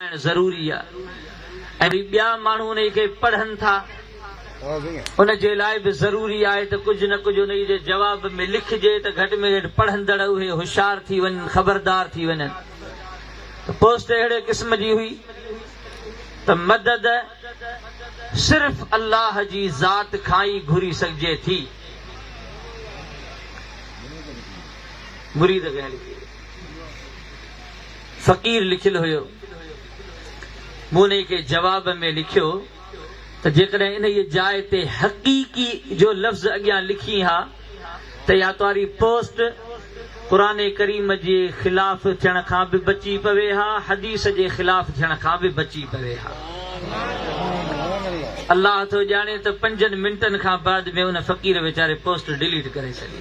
ڪرائڻ ضروري آهي ۽ جي ٻيا ماڻهو انهي کي پڙهن ٿا ان جي لاء به ضروري آهي ته ڪجهه نه ڪجهه انهي جي جواب ۾ لکجي ته گهٽ ۾ گهٽ پڙهندڙ اهي هوشيار ٿي وڃن خبردار ٿي وڃن ته پوسٽ اهڙي قسم جي هئي ته مدد صرف الله جي ذات کان ئي گهري سگهجي ٿي مريد کي فقير لکيل هيو. مون انهيء کي جواب ۾ لکيو ته جيڪڏهن انهيء جاء تي حقيقي جو لفظ اڳيان لکين ها ته اها تهاري پوسٽ قرآن ڪريم جي خلاف ٿيڻ کان به بچي پوي ها، حديث جي خلاف ٿيڻ کان به بچي پوي ها. الله ٿو ڄاڻي ته پنجن منٽن کان بعد ۾ ان فقير ويچاري پوسٽ ڊيليٽ ڪري ڇڏي.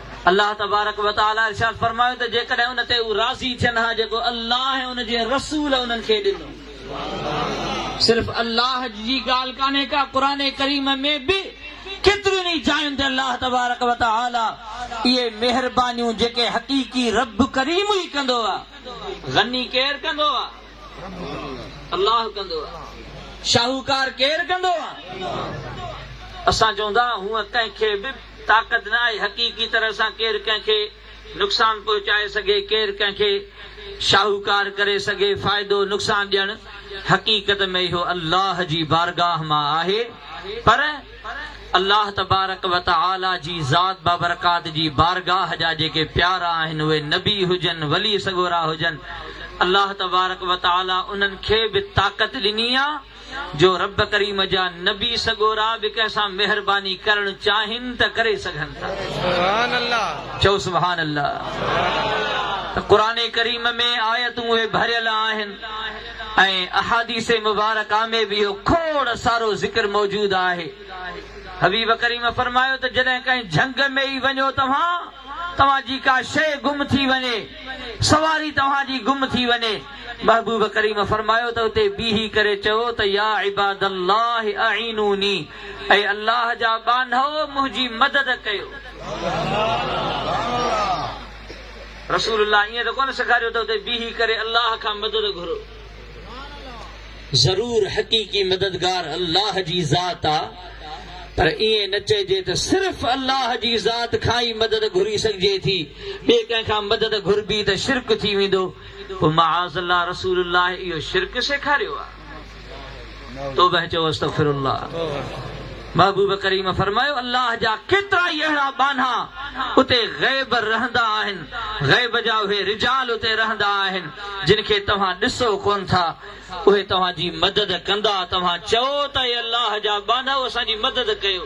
الله تبارڪ و تعاليٰ ارشاد فرمايو ته جيڪڏهن ان تي هو راضي ٿين ها جيڪو الله ۽ ان جي رسول انهن کي ڏنو. صرف الله جي ڳالهه ڪانهي ڪا قرآن ڪريم ۾ به ڪيترين ئي جاين تي الله تبارڪ و تعاليٰ اهي مهربانيون جيڪي حقيقي رب ڪريم ئي ڪندو آ غني ڪير ڪندو آ الله ڪندو آ شاهوڪار ڪير ڪندو آ اسان چون ٿا هونء ڪنهن کي به طاقت نه آهي حقيقي طرح سان ڪير ڪنهن کي نقصان پهچائي سگهي ڪير ڪنهن کي شاهوڪار ڪري سگهي فائدو نقصان ڏيڻ حقيقت ۾ اهو الله جي بارگاهه مان آهي پر الله تبارڪ وتعالي جي ذات بابرڪات جي بارگاهه جا جيڪي پيارا آهن اهي نبي هجن ولي سڳورا هجن الله تبارڪ وتعالي انهن کي به طاقت ڏني آهي جو رب ڪريم جا نبي سڳورا به ڪنهن سان مهرباني ڪرڻ چاهين ته ڪري سگهن ٿا. چئو سبحان الله. ته قرآن ڪريم ۾ آيتون اهي ڀريل آهن ۽ احاديث مبارڪه ۾ به اهو کوڙ سارو ذڪر موجود آهي. حبيب ڪريم فرمايو ته جڏهن ڪنهن جهنگ ۾ ئي وڃو توهان توهان جي ڪا شيء گم ٿي وڃي، سواري توهان جي گم ٿي وڃي، محبوب ڪريم فرمايو ته اتي بيهي ڪري چئو ته يا عباد الله اعينوني اي الله جا ٻانهئو منهنجي مدد ڪيو. رسول الله ائين ته ڪونه سيکاريو ته اتي بيهي ڪري الله کان مدد گهرو. ضرور حقيقي مددگار الله جي ذات آ پر ائين نه چئجي ته صرف الله جي ذات کان ئي مدد گهري سگهجي ٿي، ٻئي ڪنهن کان مدد گهربي ته شرڪ ٿي ويندو. پوء معاذ الله رسول الله اهو شرڪ سيکاريو آ توبه چئو استغفر الله محبوب ڪريم فرمايو الله جا ڪيترا ئي اهڙا ٻانها اتي غيب رهندا آهن غيب جا اهي رجال اتي رهندا آهن جن کي توهان ڏسو ڪون ٿا اهي توهان جي مدد ڪندا توهان چئو ته اي الله جا ٻانهاؤ اسان جي مدد ڪيو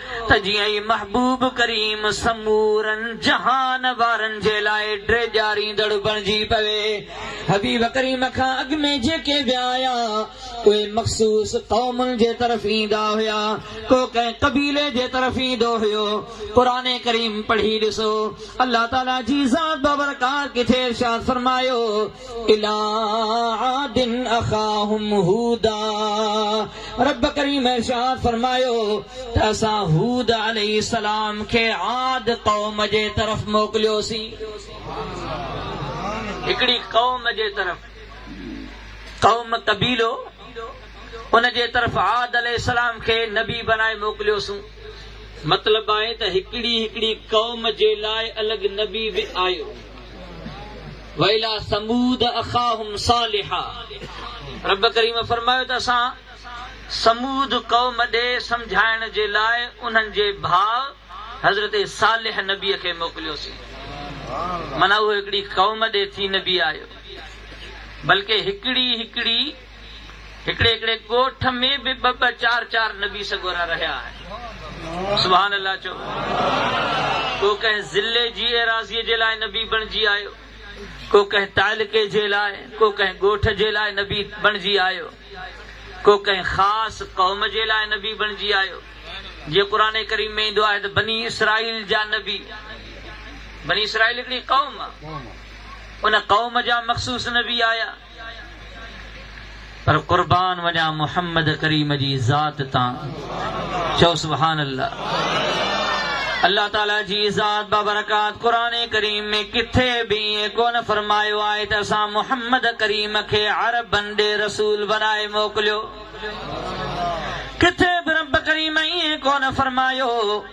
ته جيئن ئي محبوب ڪريم سمورن جهان وارن جي لاء ڊيڄاريندڙ بڻجي پوي. حبيب ڪريم کان اڳ ۾ جيڪي ويا آيا، اهي مخصوص قومن جي طرف ايندا هيا، ڪو ڪنهن قبيلي جي طرف ايندو هيو. قرآن ڪريم پڙهي ڏسو، الله تعاليٰ جي ذات بابرڪات ڪٿي ارشاد فرمايو. اليٰ عاد اخاهم هودا، رب ڪريم ارشاد فرمايو ته اسان هود عليه السلام کي عاد قوم جي طرف موڪليوسين. هڪڙي قوم جي طرف، قوم قبيلو، ان جي طرف عاد عليه السلام کي نبي بنائي موڪليوسون. مطلب آهي ته هڪڙي هڪڙي قوم جي لاء الڳ نبي به آيو. والى ثمود اخاهم صالحا رب ڪريم فرمايو ته اسان ثمود قوم ڏي سمجهائڻ جي لاء انهن جي ڀاء حضرت صالح نبي کي موڪليوسين معنيٰ اهو هڪڙي قوم ڏي ٿي نبي آيو بلڪه هڪڙي هڪڙي هڪڙي هڪڙي ڳوٺ ۾ به ٻه ٻه چار چار نبي سڳورا رهيا آهن. سبحان الله چئو. ڪو ڪنهن ضلعي جي ايراضيء جي لاء نبي بڻجي آيو، ڪو ڪنهن تعلقي جي لاء، ڪو ڪنهن ڳوٺ جي لاء نبي بڻجي آيو، ڪو ڪنهن خاص قوم جي لاء نبي بڻجي آيو. جيئن قرآن ڪريم ۾ ايندو آهي ته بني اسرائيل جا نبي، بني اسرائيل هڪڙي قوم آ، ان قوم جا مخصوص نبي آيا. پر قربان وڃان محمد ڪريم جي ذات تان چئو سبحان الله الله تعالي جي ذات بابرڪات قرآن ڪريم ۾ ڪٿي به ائين ڪونه فرمايو آهي ته اسان محمد ڪريم کي عربن ڏي رسول بنائي موڪليو ڪٿي به رب ڪريم ائين ڪونه فرمايو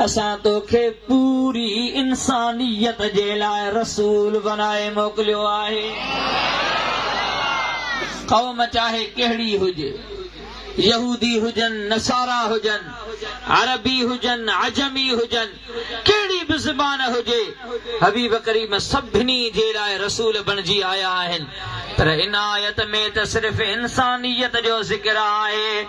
اسان توکي پوري انسانيت جي لاء رسول بنائي موڪليو آهي. قوم چاهي ڪهڙي هجي، يهودي هجن، نصارا هجن، عربي هجن، عجمي هجن، ڪهڙي به زبان هجي، حبيب ڪريم سڀني جي لاء رسول بڻجي آيا آهن. پر عنايت ۾ ته صرف انسانيت جو ذڪر آهي.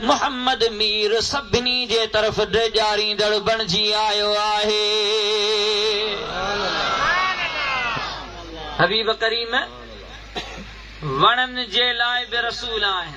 محمد مير سڀني جي طرف ڊيڄاريندڙ بڻجي آيو آهي. حبيب ڪريم وڻن جي لاء به رسول آهن.